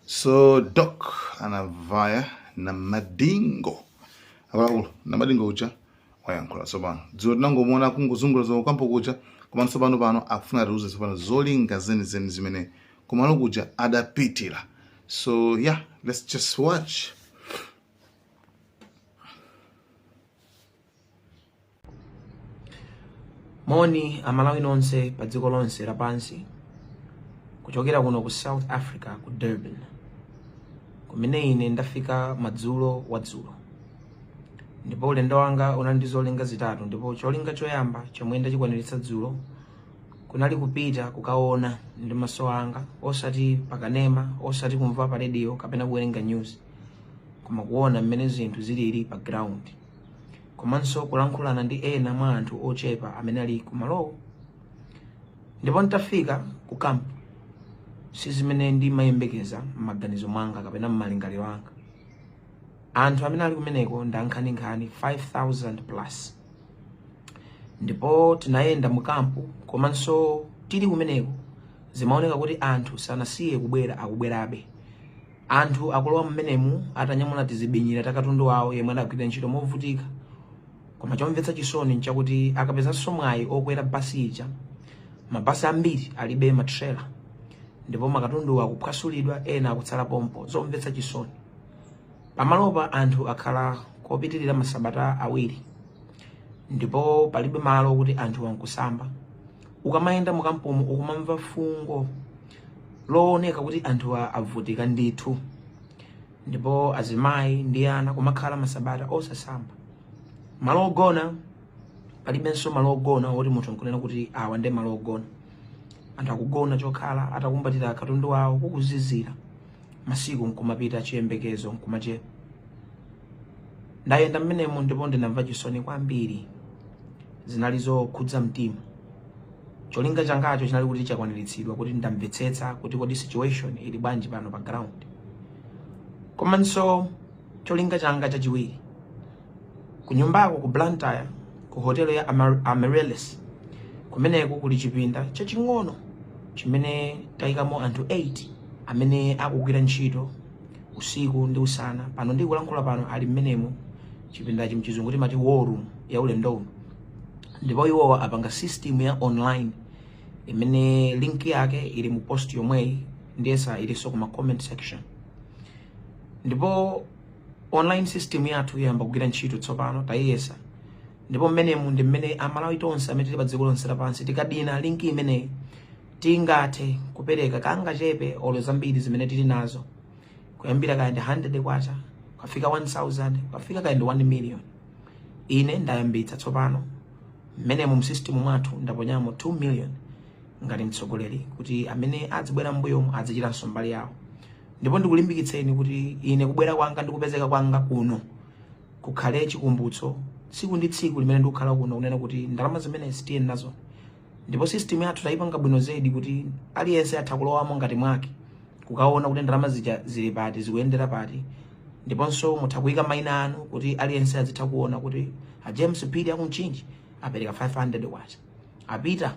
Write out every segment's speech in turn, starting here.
so doc anavaya na madingo akuluakulu na madingo uja wayankhula tsopano dzulo tinangomuona akungozungula zo ku kampu kuja komano tsopano pano akufuna atiuze tsopano zolinga zenizeni zimene kumalo kuja adapitira so yeah let's just watch moni amalawi nonse pa dziko lonse lapansi kuchokera kuno ku south africa ku durban kumene ine ndafika madzulo wadzulo ndipo ulendo wanga unali ndi zolinga zitatu ndipo cholinga choyamba chomwe ndachikwaniritsa dzulo kunali kupita kukaona ndi maso anga osati pakanema osati kumva pa radio kapena kuwerenga news koma kuona mmene zinthu zilili pa ground komanso kulankhulana ndi ena mwa anthu ochepa amene ali kumalowo ndipo nditafika ku kampu si zimene ndimayembekeza m'maganizo mwanga kapena m'malingaliro anga anthu amene ali kumeneko ndi ankhaninkhani 5000 plus ndipo tinayenda mu kampu komanso tili kumeneko zimaoneka kuti anthu sanasiye kubwera akubwerabe Anthu akulowa mmenemu atanyamula tizibinyira ta katundu wawo yemwe adagwirira ntchito movutika. Koma chomvetsa chisoni nchakuti akapezanso mwayi okwera basi ija, mabasi ambiri alibe matrela ndipo makatunduwa akuphwasulidwa ena akutsala pompo, zomvetsa chisoni. Pamalopa anthu akhala kopitirira masabata awiri ndipo palibe malo okuti anthuwa nkusamba. Ukamayenda mukampumu ukumamva fungo looneka kuti anthu avutika ndithu ndipo azimayi ndi ana kumakhala masabata osasamba malo ogona palibenso malo ogona oti munthu nkunena kuti awa ndi malo ogona anthu akugona chokhala atakumbatira katundu wawo kukuzizira masiku nkumapita chiyembekezo nkumachepa ndayenda mmenemo ndipo ndinamva chisoni kwambiri zinali zokhudza mtima Cholinga changacho chinali kuti chakwaniritsidwa, kuti ndamvetsetsa kuti kodi situation ili bwanji pano pa ground. Komanso cholinga changa chachiwiri kunyumbako ku Blantyre ku hotelo ya Amaryllis kumeneko kuli chipinda chaching'ono chimene tayikamo anthu 8 amene akugwira ntchito usiku ndi usana pano ndikulankhula pano ali mmenemo chipindachi mchizungu timati war room ya ulendo uno ndipo iwowa apanga system ya online imene link yake ili mu post yomweyi ndiyetsa ilinso kuma comment section ndipo online system yathu yayamba kugwira ntchito tsopano tayiyesa ndipo mmenemu ndi mmene amalawi tonse amene tili pa dziko lonse lapansi tikadina linki imeneyi tingathe kupereka kangachepe olo zambiri zimene tili nazo kuyambira kaya ndi 100 kwacha kukafika 1000 kukafika kaya ndi 1 million ine ndayambitsa tsopano mmenemo mu system mwathu ndaponyamo 2 million ngati mtsogoleri kuti amene adzibwera mbuyomu adzichitanso mbali yawo ndipo ndikulimbikitseni kuti ine kubwera kwanga ndi kupezeka kwanga kuno kukhale chikumbutso tsiku ndi tsiku limene ndikukhala kuno kunena kuti ndalama zimene sitiye nazo ndipo system yathu tayipanga bwino zedi kuti aliyense atha kulowamo ngati mwake kukaona kuti ndalama zija zili pati zikuyendera pati ndiponso mutha kuyika maina anu kuti aliyense azitha kuona kuti a james phiri aku mchinji apereka 500 kwacha a peter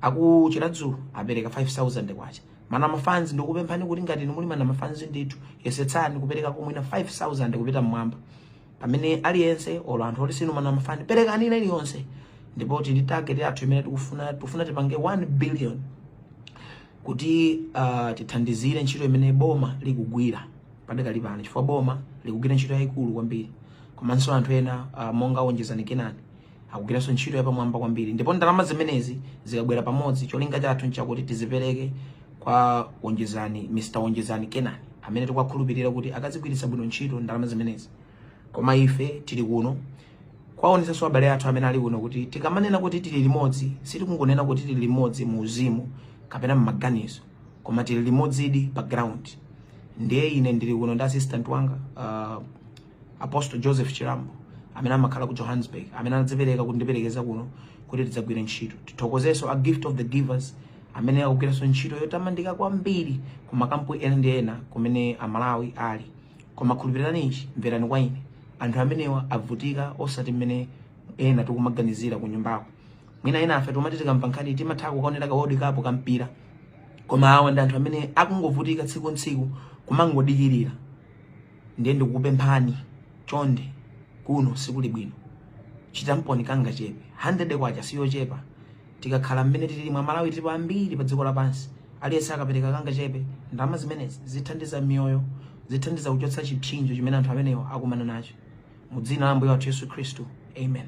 aku chiradzulu apereka 5000 kwacha mana mafanzi ndikupemphani kuti ngati inu muli mana mafanzi ndithu yesetsani kupereka ku mwina 5000 kupita mmwamba pamene aliyense olo anthu oti sinu mana mafani perekani ina iliyonse ndipo tili ndi target yathu imene tikufuna tikufuna tipange 1 billion kuti uh, tithandizire ntchito imene boma likugwira padakali pano chifukwa boma likugwira ntchito yayikulu kwambiri komanso anthu ena uh, monga onjezani kenani akugwiranso ntchito yapamwamba kwambiri ndipo ndalama zimenezi zikabwera pamodzi cholinga chathu nchakuti tizipereke kwa onjezani mr onjezani kenani amene tikuwakhulupirira kuti akazigwiritsa bwino ntchito ndalama zimenezi koma ife tili kuno kuwaonetsanso abale athu amene ali kuno kuti tikamanena kuti tili limodzi sitikungonena kuti tili limodzi mu uzimu kapena mmaganizo koma tili limodzidi pa ground ndiye ine ndili kuno ndi assistant wanga uh, apostle joseph chirambo amene amakhala ku johannesburg amene anadzipereka kundiperekeza kuno kuti tidzagwire ntchito tithokozenso a gift of the givers amene akugwiranso ntchito yotamandika kwambiri ku makampu ena ndi ena kumene amalawi ali koma khulupirirani ichi mverani kwa ine anthu amenewa avutika osati mmene ena tikumaganizira ku nyumbako mwina ena afe tomati tikamva nkhani timatha kukaonera ka world cup kampira koma awa ndi anthu amene akungovutika tsiku ntsiku kumangodikirira ndiye ndikupemphani chonde kuno sikuli bwino chitamponi kangachepe 100 kwacha siyochepa tikakhala mmene tili amalawi tilipo ambiri pa dziko lapansi aliyense akapereka kangachepe ndalama zimenezi zithandiza miyoyo zithandiza kuchotsa chipsinjo chimene anthu amenewa akumana nacho mu dzina la ambuye wathu yesu khristu amen